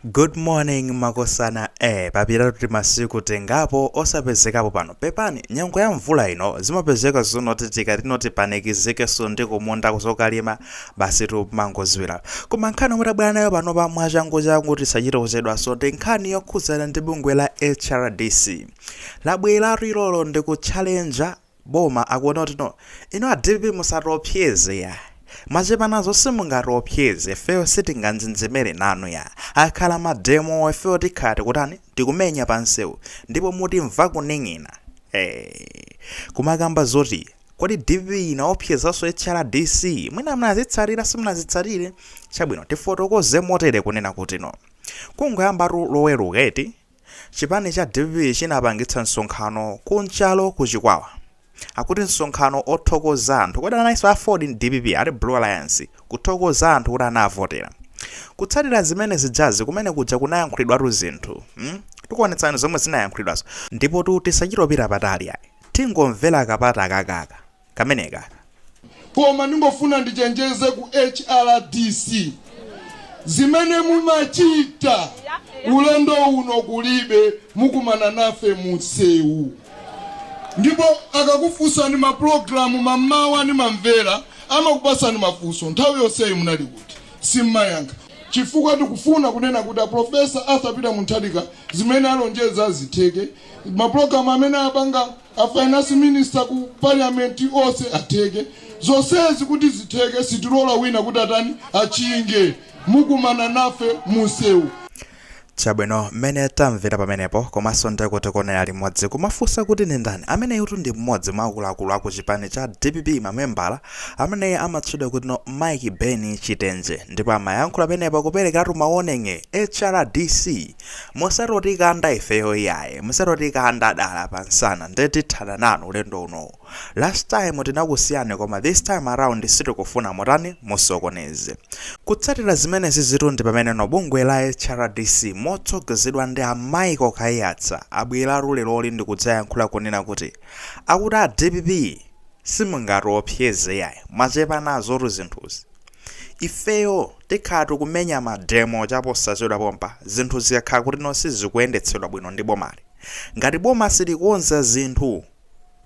Good morning makosana eh papitatu masiku tengapo osapezekapo pano pepani nyengo ya mvula ino zimapezeka zinazoti tikatino tipanikizikenso ndi kumunda kuzokalima basi timangoziwira koma nkhani yomwe tabwera nayo pano pa mwachanguchangu tisachite kuchedwanso ndi nkhani yokhudzana ndi bungwe la hrdc labweratu lero lolemba ndi kutchalenja boma akuona kuti no ino a dpp musatiopseze ya mwachepa nazo simungatiopseze ifeyo sitinganjenjemere nanu ya akhala mademo ifeyo tikhala tikutani tikumenya pansewu ndipo mutimva kuning'ina hey. kumakamba zoti kodi dpp inaopsezanso hrdc mwina mnazitsatira simunazitsate chabwino tifotokoze motere kunena kuti no kungoyambatu loweruka eti Chipani cha dpp chinapangitsa msonkhano ku nchalo ku chikwawa akuti msonkhano othokoza anthu kodi analinso aford ndi dpp ati blue alliance kuthokoza anthu kuti anavotera kutsatira zimenezijazi kumene kuja kunayankhulidwatu zinthu mm? tikuonetsani zomwe zinayankhulidwazo ndipotu tisachitopita patali ayi tingomvera kapata kakaka kameneka. Koma ndingofuna ndichenjeze ku HRDC zimene mumachita ulendo uno kulibe mukumana nafe munsewu ndipo akakufunsani mapulogalamu mammawa ndimamvera amakupasani mafunso nthawi yonseyi munali kuti simmayankha chifukwa tikufuna kunena kuti aprofesa arthur peter mutharika zimene alonjeza zitheke mapulogalamu amene apanga a finance minister ku parliament onse atheke zonsezi kuti zitheke sitilola wina kuti atani achinge mukumana nafe munsewu chabwino mmene tamvera pamenepo komanso ndikuonera limodzi kumafunsa kuti ndi ndani ameneyutu ndi mmodzi mwa akuluakulu aku chipani cha dpp membala ameneyi amatchedwa kuti no mike ben chitenje ndipo amayankhula pamenepo kuperekeratu maoneng'e hrdc musati otikanda ifeyo iyayi musati otikanda dala pa nsana nde tithana nanu ulendo unowu last time tinakusiyani koma this time around sitikufuna mutani musokoneze kutsatira zimenezitu ndi pameneno bungwe la hrdc motsogozedwa ndi a michael kaiyatsa abwera lero loli ndi kudzayankhula kunena kuti akuti a dpp simungatiopseze yayi mwachepa nazotu zinthuzi Ifeyo tikhala tikumenya ma demo chaposachedwapompa zinthu zikakhala kutino sizikuendetsedwa bwino ndi bomali. Ngati boma silikonza zinthu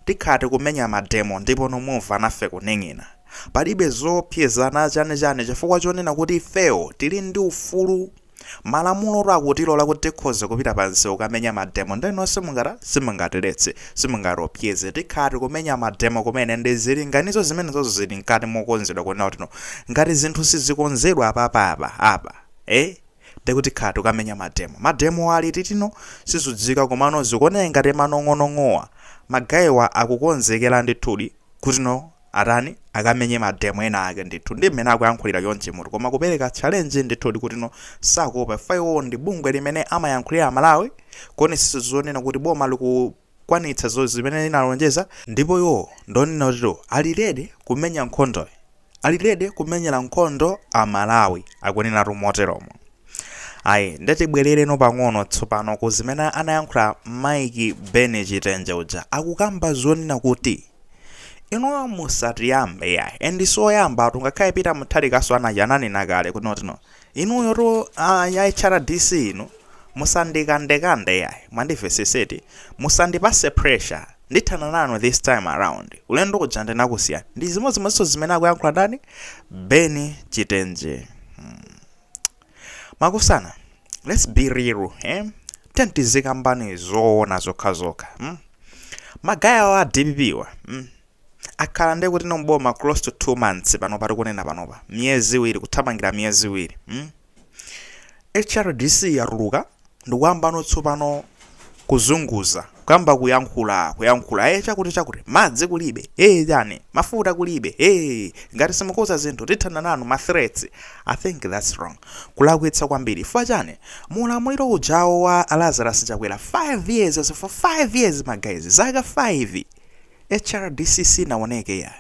tikhala tikumenya ma demo ndipono mumva nafe kuning'ina. Palibe zoopsezana chani chani chifukwa chonena kuti ifeyo tili ndi ufulu Malamulo akutilola kuti tikhoza kupita pa msewu kukamenya mademo nde inuyo simungata, simungatiletse, simungatiopseze. Tikhala tikumenya mademo kumene ndi zilinganizo zimenezozo zili mkati mokonzedwa kunena kuti no ngati zinthu sizikonzedwa apapa apa, apa, eh, nde kuti tikhala tikukamenya mademo. Mademowo ali liti no? Sizikudziwika komano zikuoneka ngati manong'onong'owa, ma guy'wa akukonzekera ndithudi kuti no. atani akamenye ma demo ena ake ndithu ndi mmene akuyankhulira chonchi mutu koma kupereka challenge ndithu ndi kuti no sakuopa imfa iwowo ndi bungwe limene amayankhulira amalawi kuonetsetsa zonena kuti boma likukwanitsa zomwe zimene linalonjeza ndipo iwo akunena kuti no ali ready kumenya nkhondoyi ali ready kumenyera nkhondo amalawi akuneneratu moteromo ayi ndatibwerereno pang'ono tsopano ku zimene anayankhula Mike Ben chitenje uja akukamba zonena kuti inuyo musatiyambe yayi and sioyamba atu ngakhale pita muthalikaso anachi ananena kale kuti no inuyo to ah, ya hrdc inu musandikandekande yayi mwandimvetsetsa eti musandipatse pressure ndithana nanu this time around ulendo uja ndinakusiyani ndi zimodzimodzinso zimene akuyankhula ndani beni chitenje Makosana, let's be real eh? then tizikamba zoona zokhazokha mm? ma guy awa a dpp wa mm? akhala ndekuti ali m'boma close to two months pano pati kunena panopa miyezi iwiri kuthamangira miyezi iwiri mm? hrdc yatuluka Ndikuyambano tsopano kuzunguza, kuyamba kuyankhula, kuyankhula, eh, chakuti, chakuti, madzi kulibe, eh, chani, mafuta kulibe, eh, ngati simukonza zinthu tithana nanu, ma threats, I think that's wrong, kulakwitsa kwambiri, chifukwa chani, mu ulamuliro ujawo wa a Lazarus Chakwera, 5 years, for 5 years, ma guys, zaka 5, hrdc sinawoneke, yayi.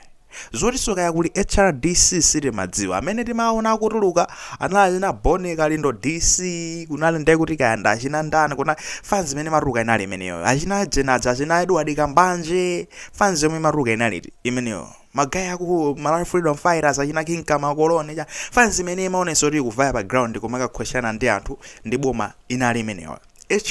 Zotiso kaya kuli hrdc sitimadziwa amene timawaona akutuluka anali achina Boni kalindo DC kunali ndekuti kaya ndi achina ndani kunali fans imene imatuluka inali imeneyoyo achina ujeni aja achina Edward kambanje fans yomwe imatuluka inali iti imeneyo ma guy aku Malawi Freedom Fighters achina King Kamakoloni cha fans imene imaonesa kuti ikuvaya pa ground kumakakhweshana ndi anthu ndi boma inali imeneyoyo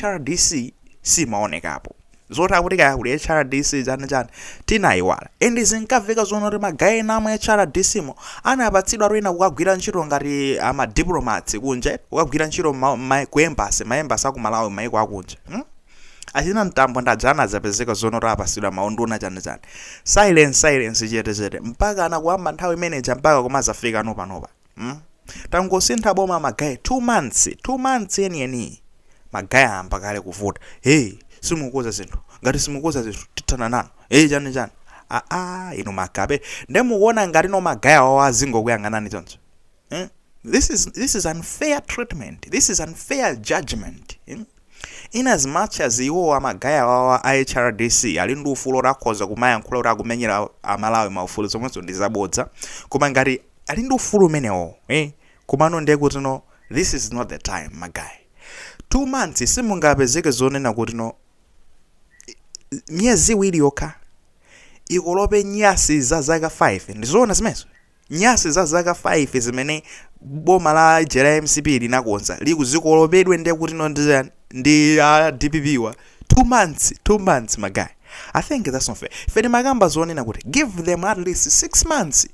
hrdc simaonekapo zoti akuti kaya kuli hrdc chani chani tinayiwala and zinkamveka zonena kuti ma guy ena amu hrdc mo anapatsidwa ntoyena kukagwira ntchito ngati amadiplomats kunja kukagwira ntchito mma- mma- ku embasi maembasi akumalawi maiko akunja hmm? achina Mtambo aja anazapezeka zonena kuti apasidwa maunduna chani chani silence silence chete chete mpaka kuyamba nthawi imeneja mpaka kumazafika nopanopa mm? tangosintha boma magaye 2 months 2 months yeniyeniyi magaye ayamba kale kuvuta hey simukonza zinthu ngati simukonza zinthu tithana nanu hey chani chani aa inu makape nde mukuona ngati no magaye awawo azingokuyang'anani choncho eh? this is unfair treatment this is unfair judgment eh? in as much as iwowo magaye awawa a hrdc ali ndi ufulu otakhoza kumayankhula kuti akumenyera amalawi maufulu zomwenso ndi zabodza koma ngati ali ndi ufulu umenewo eh? komano ndiye kutino this is not the time my guy two months simungapezeke zonena kutino miyezi iwiri yokha ikolope nyasi za zaka 5 ndizoona zimenezo nyasi za zaka 5 zimene boma la jera mcp linakonza zikolopedwe ndiye kuti no ndi ndi a dpp wa two months two months my guy i think that's not fair ife timakamba zonena kuti give them at least six months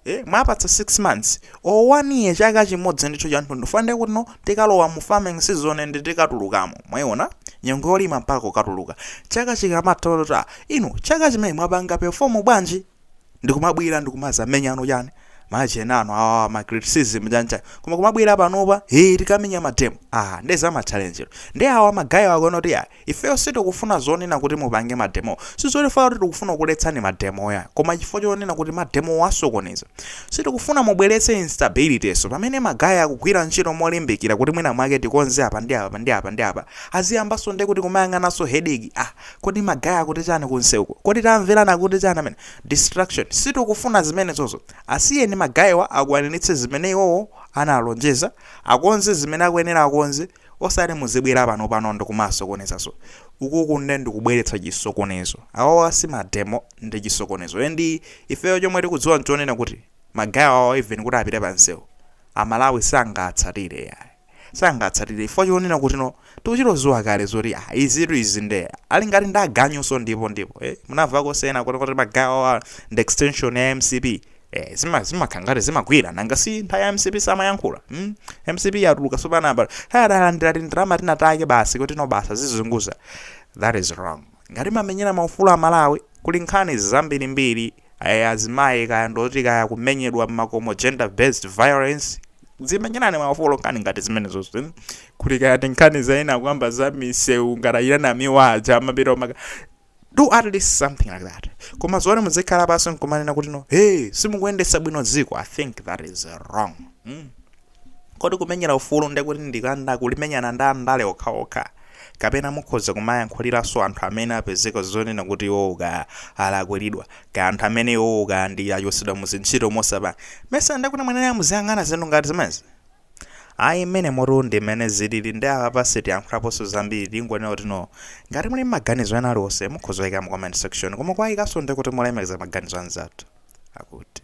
ee mwapatsa 6 months or 1 year chaka chimodzi ndithu chathunthu fana ndi kuno tikalowa mu farming season and tikatulukamo mwayiona nyengo yolima mpaka kukatuluka chaka chikamatha tione inu chaka chimene mwapanga perform bwanji ndikumabwera ndikumazamenya ano chani machani ano awa ma criticism chani chani koma kumabwera panopa ee tikamenya mademo ah nde za ma challenge ndi awa magaye akuona kuti ayi Ifeyo sitikufuna zonena kuti mupange ma demo. Sizoti ife kuti tikufuna kukuletsani ma demo yayi. Koma chifukwa chonena kuti ma demo wo asokoneza. Sitikufuna mubweretse instability so. Pamene ma guy akugwira ntchito molimbikira kuti mwina mwake tikonze apa ndi apa ndi apa ndi apa. Aziyambanso nde kuti kumayang'ananso headache ah kodi ma guy akuti chani ku nseuko? Kodi tamverani akuti chani amene? Distraction. Sitikufuna zimenezozo. Asiyeni ma guy wa akwaniritse zimene iwowo analonjeza. Akonze zimene akuyenera akonze. Osati muzibwera pano pano ndikumasokoneza so ukuku nde ndikubweretsa chisokonezo awawa si mademo ndi chisokonezo and ifeyo chomwe tikudziwa nchonena kuti magaye awawa even kuti apite pa nseu amalawi sangaatsatire yayi sangaatsatire chifukwa chonena kuti no tikuchita kudziwa kale zoti ah izitu izi nde ali ngati ndi aganyunso ndipo ndipo eh munamvakonso ena akuti kuti magaye awawa ndi extension ya mcp Eh, zima zimakhala ngati zimagwira nanga si nthawi ya mcp samayankhula mm? mcp yatuluka sopano apa atalandira tindalama tinatake basi kuti no basi azizunguza that is wrong ngati mamenyera maufulu a malawi kuli nkhani zambirimbiri eh, azimayi kaya ndoti kaya kumenyedwa mmakomo gender based violence dzimenyerani maufulu nkhani ngati zimenezo mm? kuti kaya ndi nkhani zina kuyamba za misewu ngatayirana miwaja mapita omaka do at least something like that koma zoti muzikhala pansi nkumanena kuti no hey simukuyendetsa bwino dziko i think that is wrong mm. kodi kumenyera ufulu ndi kuti ndi kungolimenyana ndi andale okhaokha kapena mukhoza kumayankhuliranso anthu amene apezeka zonena kuti iwo ka alakwiridwa ka anthu amene iwo ka achosedwa muzintchito mosapamesa ndiye kuti mwayenera muziyang'ana zinthu ngati zimenezi Ayi mmenemotu ndi mmene zilili ndiye apapa sitiyankhulaponso zambiri tingonena kuti no. Ngati muli ndi maganizo ena aliwonse mukhoza kuika mu comment section koma kuwaikanso ndi kuti mulemekeze maganizo a anzathu. Akuti.